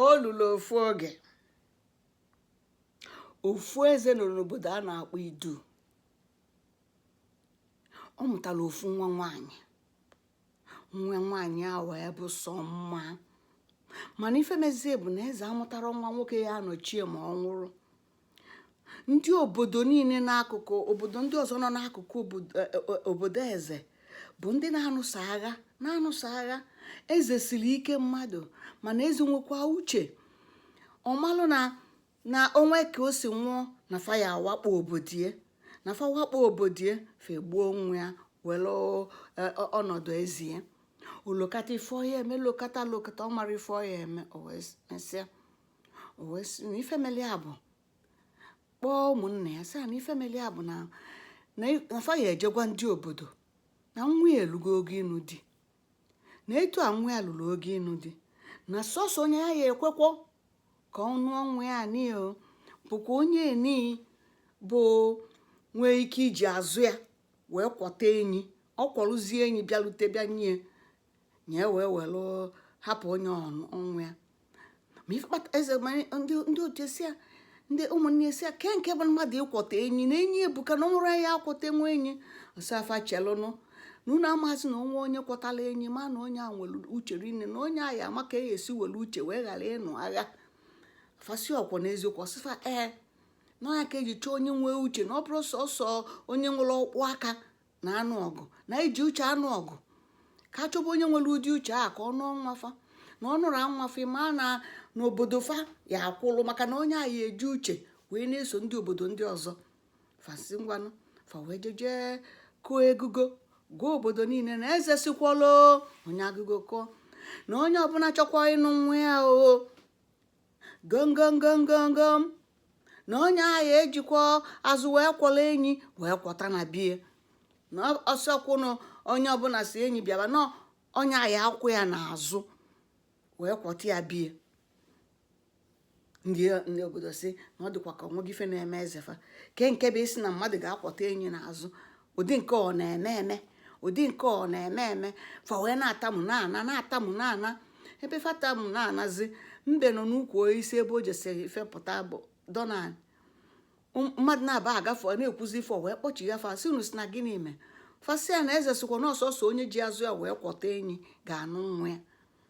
o lulu ofu oge ofu eze nọ n'obodo a na-akpọ idu ọ mụtara ofu nwa nwaanyị nwa nwaanyị a wee bụ sọ mma mana ife mezie bụ na eze amụtarọ nwa nwoke ya-anọchie ma ọ nwụrụ ndị obodo niine n'akụkụ obodo ndị ọzọ nọ n'akụkụ obodo e, e, e, obodo eze bụ ndị na-anụso agha na-anụso agha eze siri ike mmadụ mana eze nwekwa uche ọ malụ na na o nwee ka o si nwụọ na fa ya-awakpo obodo ya na fa wakpo obodo ya fa egbuo nwa ya were ọnọdụ eze ya o lokata ife ọ ya-eme lokata lokata ọ marọ ife ọ ya-eme o wee mesịa o wee sị na ife mere ya bụ kpọọ ụmụnne ya sị fa na ife mere ya bụ na na fa ya-eje gwa ndị obodo na nwa ya elugo oge ịnụ di na etu a nwa ya lulu oge ịnụ di na sọsọ onye ya ya-ekwekwa ka ọ nụọ nwa ya n'ihi o bụkwa onye eni bụ nwee ike iji azụ ya wee kwọta enyi ọ kwọlụzie enyi bịalute bịa nye na e wee were hapụ onye ahụ nwa ya ma ife kpata eze ma ndị ndị otu ya sị ya ndị ụmụnne ya sị ya kee nke bụ mmadụ ịkwọta enyi na enyi ebuka na o nwerọ onye ya-akwọtanwu enyi ọ sị fa chelụnụ na unu amazi na o nwee onye kwọtara enyi ma na onye a nwere uche rinne na onye a ya-ama ka e esi were uche wee ghara ịnụ agha fa sị ọ kwanụ eziokwu ọ sị fa ee na ya ka e ji chọọ onye nwee uche na ọ bụrụ sọsọ onye nwere ọkpụ aka na-anụ ọgụ na iji uche anụ ọgụ ka a chọba onye nwere ụdị uche a ka ọ nụọ nwa fa na ọ nụrụ nwa fa ma na na obodo fa ya-akwụlụ maka na onye a ya-eji uche wee na-eso ndị obodo ndị ọzọ fa sị ngwanụ fa wee jeje kụọ egogo gwa obodo niine na eze sịkwalụ onye agogo kụọ na onye ọbụna chọkwa ịnụ nwa ya o gomgomgomgomgom na onye a ya-ejikwa azụ wee kwọlụ enyi wee kwọta na be ya na ọ sọkwanụ onye ọbụna sị enyi bịaba na onye a ya-akwọ ya n'azụ wee kwọta ya be ya ndị ndị obodo sị na ọ dịkwa ka o nwego ife na-eme eze fa kee nke bụ ịsị na mmadụ ga-akwọta enyi n'azụ ụdị nke ọ na-eme eme ụdị nke ọ na-eme eme fa wee na-atamu na-ana na-atamu na-ana ebe fa tamu na-anazi mbe nọ n'ukwu osisi ebe o jesịrị ife pụta budo n'anị mmadụ naabọ agafe na-ekwuzi ife wee kpọchigha fa sị unu sị na gịnị mee fa sị ya na eze sịkwa na ọ sọsọ onye ji azụ ya wee kwọta enyi ga-anụ nwa ya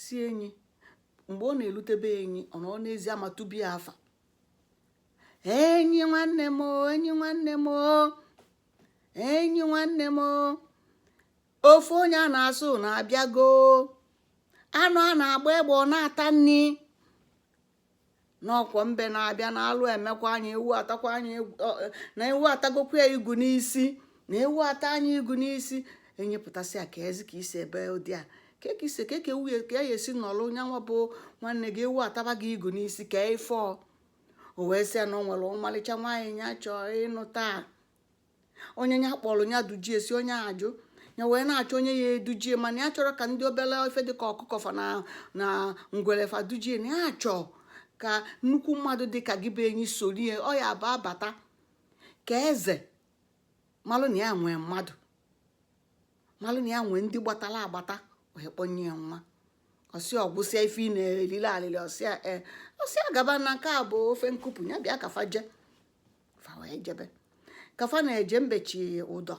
si enyi mgbe ọ na-elute be enyi ọ nọ n'ezi ama tube ya afa enyi nwanne m enyi nwanne m enyi nwanne m ofu onye a na-asị unu abịago anụ a na-agba egbe ọ na-ata nni n'ọkwa mbe na-abịa na alụ emekwa nya ewu atakwa nya na ewu atagokwa ya igu n'isi na ewu ata nya igu n'isi enyi pụta sị ya kezi ka i si ebe ụdị a ka ka isi ka ka ewu ka ya esi nọlụ nya nwa bụ nwanne gị ewu ataba gị igu n'isi kee ife o wee sị ya na o nwelu ọmalịcha nwaanyị ya chọọ ịnụ taa onye ya kpọlụ ya duje ya si onye ajụ ya wee na-achọ onye ya-eduje ya mana ya achọrọ ka ndị obele ife dịka ọkụkọ fa na na ngwele fa duje ya na ya chọọ ka nnukwu mmadụ dịka gị bụ enyi soro ya ọ ya-abụ a bata ka eze malụ na ya nwee mmadụ malụ na ya nwee ndị gbatalụ agbata wee kpọnye ya nwa ọ sị ọ gwụsịa ife ị na-elile alịlị ọ sị ya ee ọ sị ya gaba na nke a bụ ofe nkụpụ ya bịa ka fa jee fa wee jebe ka fa na-eje mbe chị ụdọ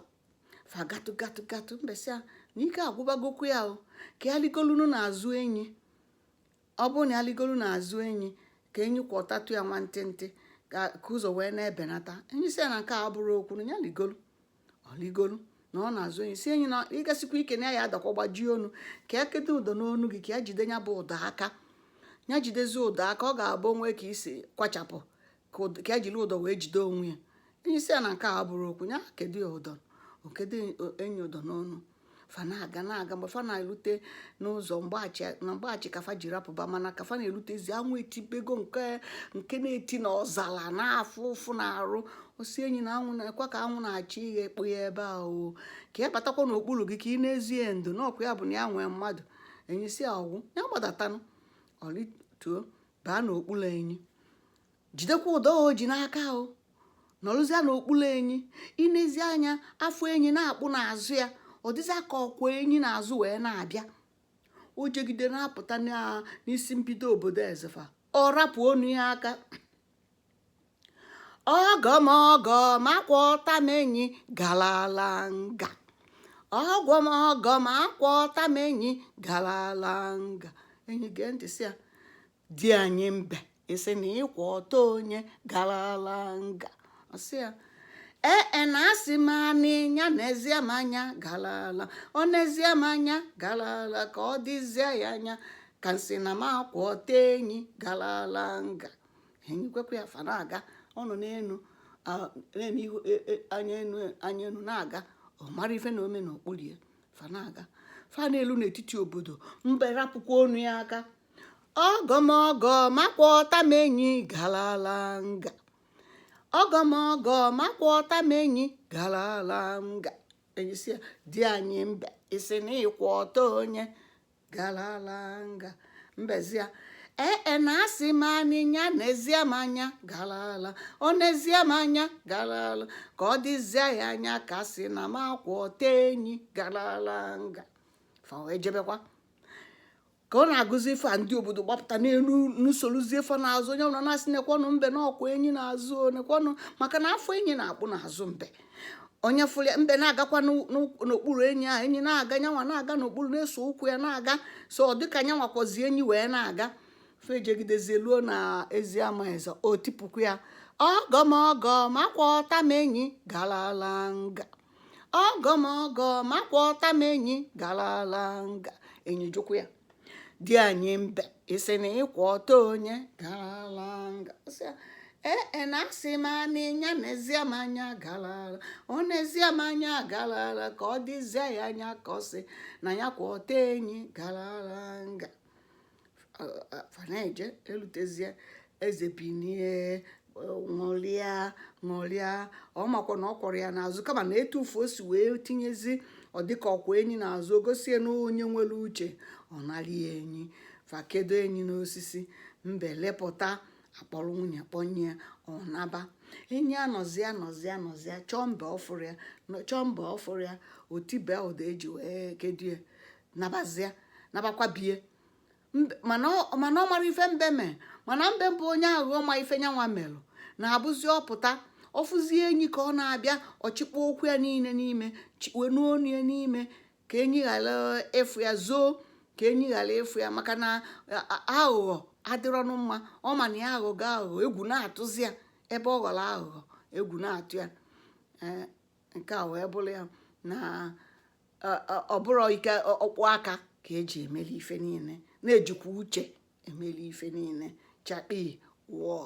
fa gatụ gatụ gatụ mbe sị ya na ike agwụbagokwa ya o ka ya ligolunu n'azụ enyi ọ bụrụ na ya ligolu n'azụ enyi ka enyi kwọtatụ ya nwantịntị ka ka ụzọ wee na-ebenata enyi sị ya na nke a abụrọ okwu na ya ligolu o ligolu nọ n'azụ enyi sị enyi na ị gasikwa ike na ya ya-adakwa gbajie onu ka ya kete ụdọ n'onu gị ka ya jide ya bụ ụdọ aka ya jidezie ụdọ aka ọ ga-abụ o nwee ka i si kwachapụ ka ya jiri ụdọ wee jide onwe ya enyi sị ya na nke a abụrọ okwu ya kedo ya ụdọ o kedo enyi ụdọ n'onu fa na-aga na-aga mgbe fa na-elute n'ụzọ na mgbachi ka fa jiri pụba mana ka fa na-elutezi anwụ etibego nke nke na-eti na ọzala na-afụ ụfụ n'arụ ọ sị enyi na anwụ nekwa ka anwụ na-achọ irekpo ya ebe a o ka ya batakwa n'okpulu gị ka ị na-ezi ya ndo n'ọkwa ya bụ na ya nwee mmadụ enyi sị ọ gwụ ya gbadatanụ o lituo baa n'okpulu enyi jidekwa ụdọ o ji n'aka o nọlụzie n'okpulu enyi i nezie anya afọ enyi na-akpụ n'azụ ya ọ dịzịa ka ọ kwọ enyi n'azụ wee na-abịa o jegide na-apụta n'isi mbido obodo eze fa ọ rapụ onu ya aka ọgọ m ọgọ m akwọta m enyi galala nga ọgọ m ọgọ m akwọta m enyi galala nga enyi gee ntị sị ya di anyị mbe ị sị na ị kwọta onye galala nga ọ sị ya ee e, na asị m anị nya nezie m anya galala o nezie m anya galala ka ọ dịzie ya anya ka m sị na m akwọta enyi galala nga enyi kwekwa ya fa na-aga ọ nọ n'elu na-eme ihu e, e, anya enu anya enu na-aga ọ marọ ife na-eme n'okpuru ya fa na-aga fa na-elu n'etiti obodo mbe rapụkwa onu ya aka ọgọ m ọgọ m akwọta m enyi galala nga ọgọ m ọgọ m akwọta m enyi galala nga enyi sị ya di anyị mbe ị sị na ị kwọta onye galala nga mbe sị ya ee e, na asị m anị nya nezie m anya galala o nezie m anya galala ka ọ dịzie ya anya ka asị na m akwọta enyi galala nga fa wee jebekwa ka ọ na-agụzi ife a ndị obodo gbapụta na-ene na-esorozi fa n'azụ onye ọbụla na-asị nekwanụ mbe na ọ kwọ enyi n'azụ nekwanụ maka na afọ enyi na-akpụ n'azụ mbe onye fụrụ ya mbe na-agakwa n'okpuru enyi a enyi na-aga nyanwa na-aga n'okpuru na-eso ụkwụ ya na-aga so ọ dịka nyanwa kwọzi enyi wee na-aga fa jegidezie luo na ezi ama eze o tipụkwa ya ọgọ m ọgọ m akwọta m enyi galala nga ọgọ m ọgọ m akwọta m enyi galala nga enyi jụkwa ya di anyị mbe ị sị na ị kwọta onye galala nga Sị ya, ee e na asị m anị ya nezie m anya galala o nezie m anya galala ka ọ dịzie ya anya ka ọ sị na ya akwọta enyi galala nga fa na-eje elutezie eze binie ṅụrịa ṅụrịa ọ makwa na ọ kwọrọ ya n'azụ kama na etu afụ o si wee tinyezi ọ dịka ọ kwọ enyi n'azụ o gosie na onye nwere uche ọ narịa enyi fa kedo enyi n'osisi mbe lepụta a kpọrọ nwunye kpọnye ya ọ naba enyi anọzi anọzi anọzi chọọ mbe ọ fụrọ ya nọ- chọọ mbe ọ fụrọ ya o tibie ụdọ e ji wee kedo ya nabazia nabakwa be ya mana ọ mara ife mbe mee mana mbe bụ onye aghụghọ ma ife nyanwa melụ na-abụzi ọ pụta ọ fụzie enyi ka ọ na-abịa ọ chịkpọ ụkwụ ya niile n'ime chikwe n'onu ya n'ime ka enyi ghara ịfụ ya zoo ka enyi ghara ịfụ ya maka na aghụghọ adịrọnụ mma ọ ma na ya aghọọ aghụghọ egwu na-atụzi ya ebe ọ ghọrọ aghụghọ egwu na-atụ ya nke a wee bụrụ ya na ọ bụrọ ike ọkpụ aka ka e ji emeli ife niile na e jikwa uche emeli ife niile chakpi wọọ